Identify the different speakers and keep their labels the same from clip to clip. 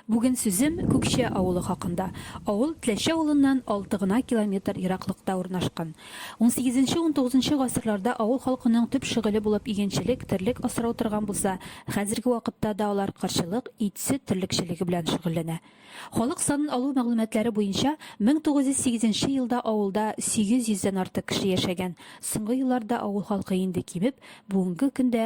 Speaker 1: Бүген сүзем Күкче авылы хакында. Авыл Тләче авылыннан алты гына километр ераклыкта урнашкан. Унсигезенче-унтугызынчы гасырларда авыл халкының төп шөгыле булып игенчелек, терлек асрау торган булса, хәзерге вакытта да алар кырчылык, ит-сөт терлекчелеге белән шөгыльләнә. Халык санын алу мәгълүматлары буенча, мең тугыз йөз сигезенче елда авылда сигез йөздән артык кеше яшәгән, соңгы елларда авыл халкы инде кимеп, бүгенге көндә,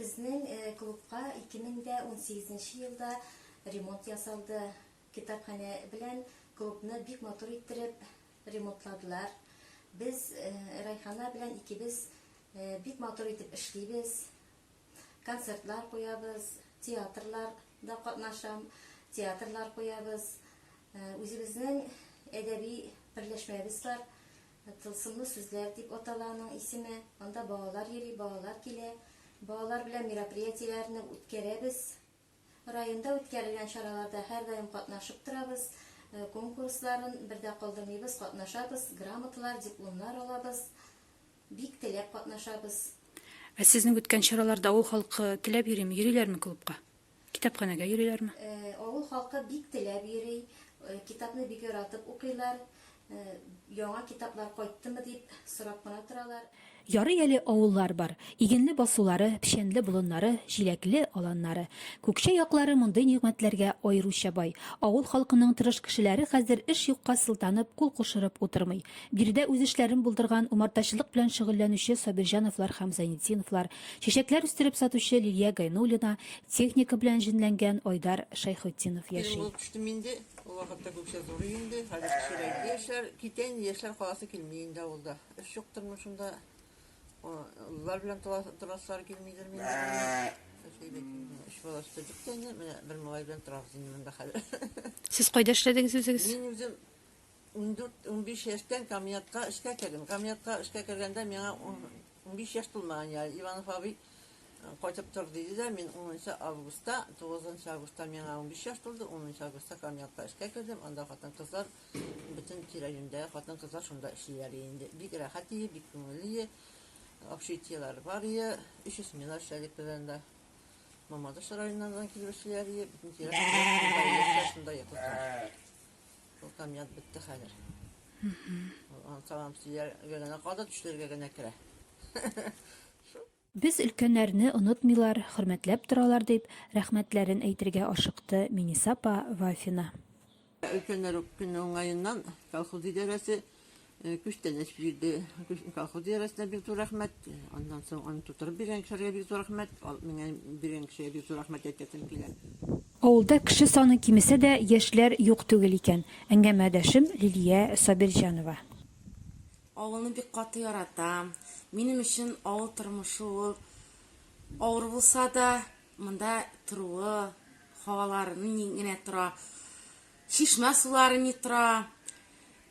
Speaker 1: Безнең клубка 2018 елда ремонт ясалды. Китапханә белән клубны бик матур иттереп ремонтладылар. Без Райхана белән икебез бик матур итеп эшлибез. Концертлар куябыз, театрлар да катнашам, театрлар куябыз. Үзебезнең әдәби берләшмәбез бар. Тылсымлы сүзләр дип атала аның исеме. Анда балалар йөри, балалар килә. Балалар белән мероприятиеләрне үткәрәбез. Районда үткәрелгән чараларда һәрдаим катнашып торабыз. Конкурсларын бер дә калдырмыйбыз, катнашабыз, грамоталар, дипломнар алабыз. Бик теләп катнашабыз. Ә сезнең үткән чараларда авыл халкы теләп йөрими, йөриләрме клубка? Китапханәгә йөриләрме? Авыл халкы бик теләп йөри, китапны бик яратып укыйлар. Яңа китаплар кайттымы дип сорап кына торалар. Ярый әле авыллар бар. Игенле басулары, печәнле болыннары, җиләкле аланнары. Күкчә яклары мондый нигъмәтләргә аеруча бай. Авыл халкының тырыш кешеләре хәзер эш юкка сылтанып, кул кушырып утырмый. Биредә үз эшләрен булдырган, умартачылык белән шөгыльләнүче Сабирҗановлар һәм Зайнетдиновлар, Чәчәкләр үстереп сатучы Лилия Гайнуллина, техника белән җенләнгән Айдар Шәйхетдинов яши. Килен булып төштем инде. Ул вакытта Гүкчә зурый инде. Хәзер кечерәйде. Яшьләр китә инде, яшьләр каласы килми инде авылда. Эш юк тормышында. Олылар белән торасылары килмидер инде. Өч бала үстердек тә инде. Менә бер малай белән торабыз инде монда хәзер. Сез кайда эшләдегез үзегез? Мин үзем Ундүрт-унбиш яшьтән комиатка эшкә кердем. Комиатка эшкә кергәндә миңа унбиш яшь тулмаган ял. Иванов абый кайтып тор диде дә, мин 10 августта, 9 августта миңа 15 яшь тулды, 10 августта комиатка эшкә кердем. Анда хатын-кызлар бөтен тирә-юньдәге хатын-кызлар шунда эшлиләр инде. Бик рәхәт ие, бик күңелле. Общитиелар бар ие. Өч смена эшләдек без анда. Мамадыш районнардан килеп эшлиләр ие. Бөтен тирә шунда ие, шунда ие кызлар. Ул комбинат бетте хәзер. Аны тамам сөйләргә генә калды, төшләргә генә керә. Без өлкәннәрне онытмыйлар, хөрмәтләп торалар, дип, рәхмәтләрен әйтергә ашыкты Минисапа Вафина. Өлкәннәр үк көннең уңаеннан колхоз идарәсе Күчтәнәч бирде. Колхоз идарәсенә бик зур рәхмәт. Аннан соң аны тутырып биргән кешеләргә бик зур рәхмәт. Алып менгән биргән кешегә бик зур рәхмәт әйтәсем килә. Авылда кеше саны кимесә дә, яшьләр юк түгел икән. Әңгәмәдәшем, Лилия Сабирҗанова. Авылны бик каты яратам. Минем өчен авыл тормышы ул, авыр булса да, монда торуы, һавалары ни генә тора, чишмә сулары ни тора.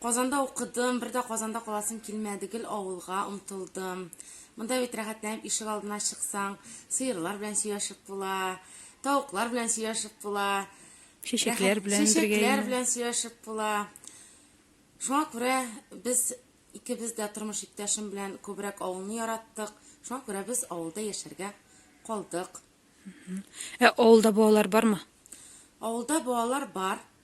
Speaker 1: Казанда укыдым, бер дә Казанда каласым килмәде, гел авылга омтылдым. Монда бит рәхәтләнеп ишек алдына чыксаң, сыерлар белән сөйләшеп була, тавыклар белән сөйләшеп була. Чәчәкләр белән бергә. Чәчәкләр белән сөйләшеп була. Шуңа күрә без икебез дә тормыш иптәшем белән күбрәк авылны яраттык. Шуңа күрә без авылда яшәргә калдык. Ә авылда балалар бармы? Авылда балалар бар.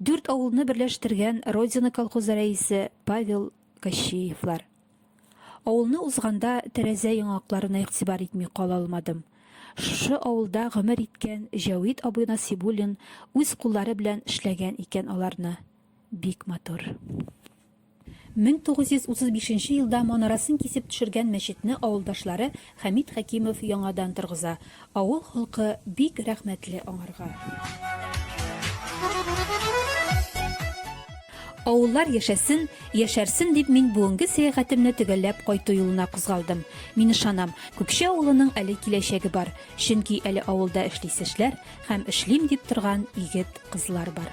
Speaker 1: Дүрт авылны берләштергән Родина колхозы рәисе Павел Кощеевлар. Авылны узганда тәрәзә яңакларына игътибар итми кала алмадым. Шушы авылда гомер иткән Җәвит абый Насибуллин үз куллары белән эшләгән икән аларны. Бик матур. 1935 елда манарасын кисеп төшергән мәчетне авылдашлары Хәмит Хәкимов яңадан торгыза. Авыл халкы бик рәхмәтле аңарга. Авыллар яшәсен, яшәрсен дип мин бүгенге сәяхәтемне төгәлләп кайту юлына кузгалдым. Мин ышанам, Күкче авылының әле киләчәге бар, чөнки әле авылда эшлисе эшләр һәм эшлим дип торган егет, кызлар бар.